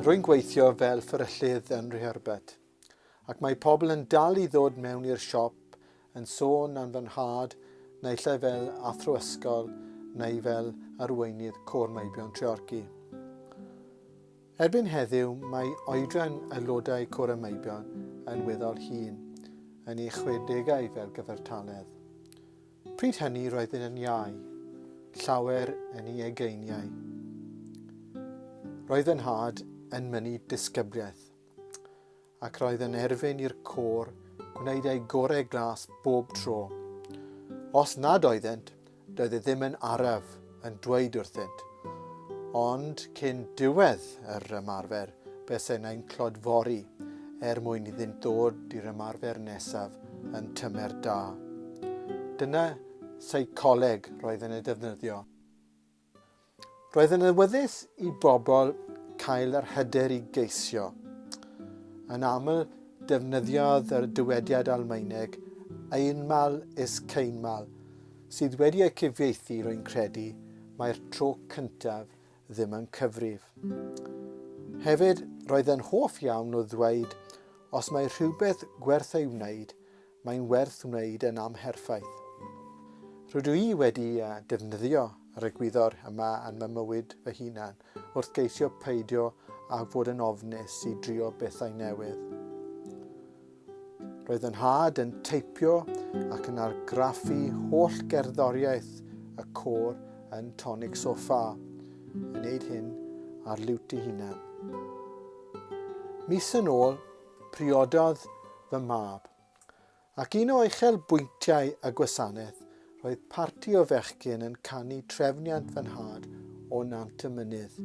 Rwy'n gweithio fel fferyllydd yn Rhyherbed, ac mae pobl yn dal i ddod mewn i'r siop yn sôn am fy nhad naill ai fel athro ysgol neu fel arweinydd Côr Meibion Treorci. Erbyn heddiw mae oedran aelodau Côr y Meibion yn weddol hŷn, yn ei chwedegau fel gyfartaledd. Pryd hynny roeddwn yn iau, llawer yn ei ugeiniau. Roedd fy nhad yn mynnu disgybliaeth. ac roedd yn erfyn i'r côr gwneud eu gorau glas bob tro. Os nad oeddent, doedd e ddim yn araf yn dweud wrthynt. Ond cyn diwedd yr ymarfer, be se neu'n clodfori er mwyn iddynt ddod i'r ymarfer nesaf yn tymer da. Dyna seicoleg roedd yn ei defnyddio. Roedd yn awyddus i bobl cael yr hyder i geisio. Yn aml, defnyddiodd yr dywediad Almaeneg einmal ist keinmal, sydd wedi ei cyfieithu, rwy'n credu, mae'r tro cyntaf ddim yn cyfrif. Hefyd, roedd yn hoff iawn o ddweud os mae rhywbeth gwerth ei wneud, Mae'n werth wneud e'n amherffaith. Rydw i wedi defnyddio yr egwyddor yma yn fy mywyd fy hunan wrth geisio peidio â fod yn ofnus i drio bethau newydd. Roedd fy nhad yn teipio ac yn argraffu holl gerddoriaeth y côr yn Tonic Sofa, yn neud hyn ar liwt ei hunan. Mis yn ôl, Priododd fy mab. Ac un o uchel bwyntiau y gwasanaeth roedd parti o fechgyn yn canu trefniant fy nhad o Nant y Mynydd.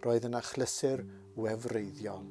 Roedd yn achlysur wefreiddiol.